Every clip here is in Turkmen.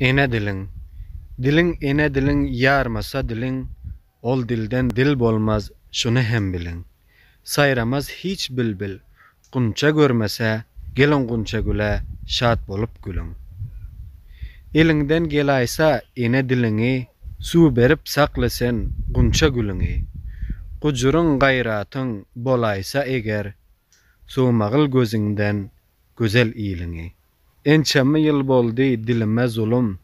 Ene diliň, diliň ene diliň ýarmasa diliň, ol dilden dil bolmaz şuny hem biliň. Saýramaz hiç bilbil, gunça görmese, geliň gunçagüle şat bolup gülüň. Eliňden gelaýsa ene diliňi, suw berip sakla sen gunça gülüňi. Gujuryň gaýratyň bolaýsa eger, sowmagyl gözüňden gözel iliňi. Ençeme ýyl boldy dilime zulum,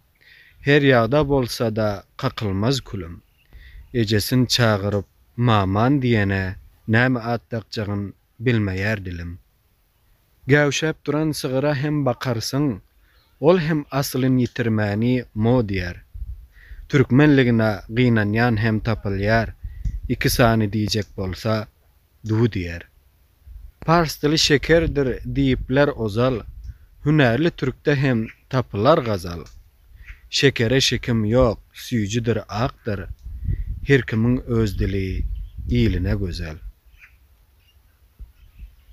Her ýagda bolsa-da kakylmaz külüm. Ejesin çagyryp Maman diýene, Näme at dakjagyn bilmeýär dilim. Gäwşäp duran sygyra hem bakarsyň, Ol hem aslyn ýitirmäni mo diýer. Türkmenligine gynanýan hem tapylýar, Iki sany diýjek bolsa, du diýer. Pars dili şekerdir diýipler ozal, Hünärli türkde hem tapylar gazal. Şekere şekim ýok, süýjüdir akdyr, Her kimiň öz dili, iline gözel.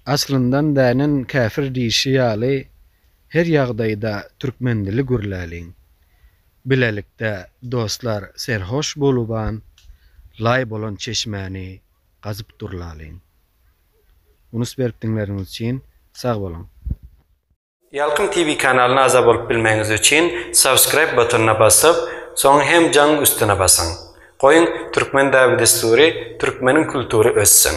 Aslyndan dänen käfir diýşi ýaly, Her ýagdaýda türkmen dili gürläliň. Bilelikde dostlar serhoş boluban, Laý bolan çeşmäni gazyp durlalyň. Unus berip diňleriňiz üçin sag boluň. Ýalkym TV kanalyna agza bolup bilmegiňiz üçin subscribe butonyna basyp, soň hem jaň üstüne basyň. Goýuň Türkmen däbi-dessury, Türkmeniň kultury össün!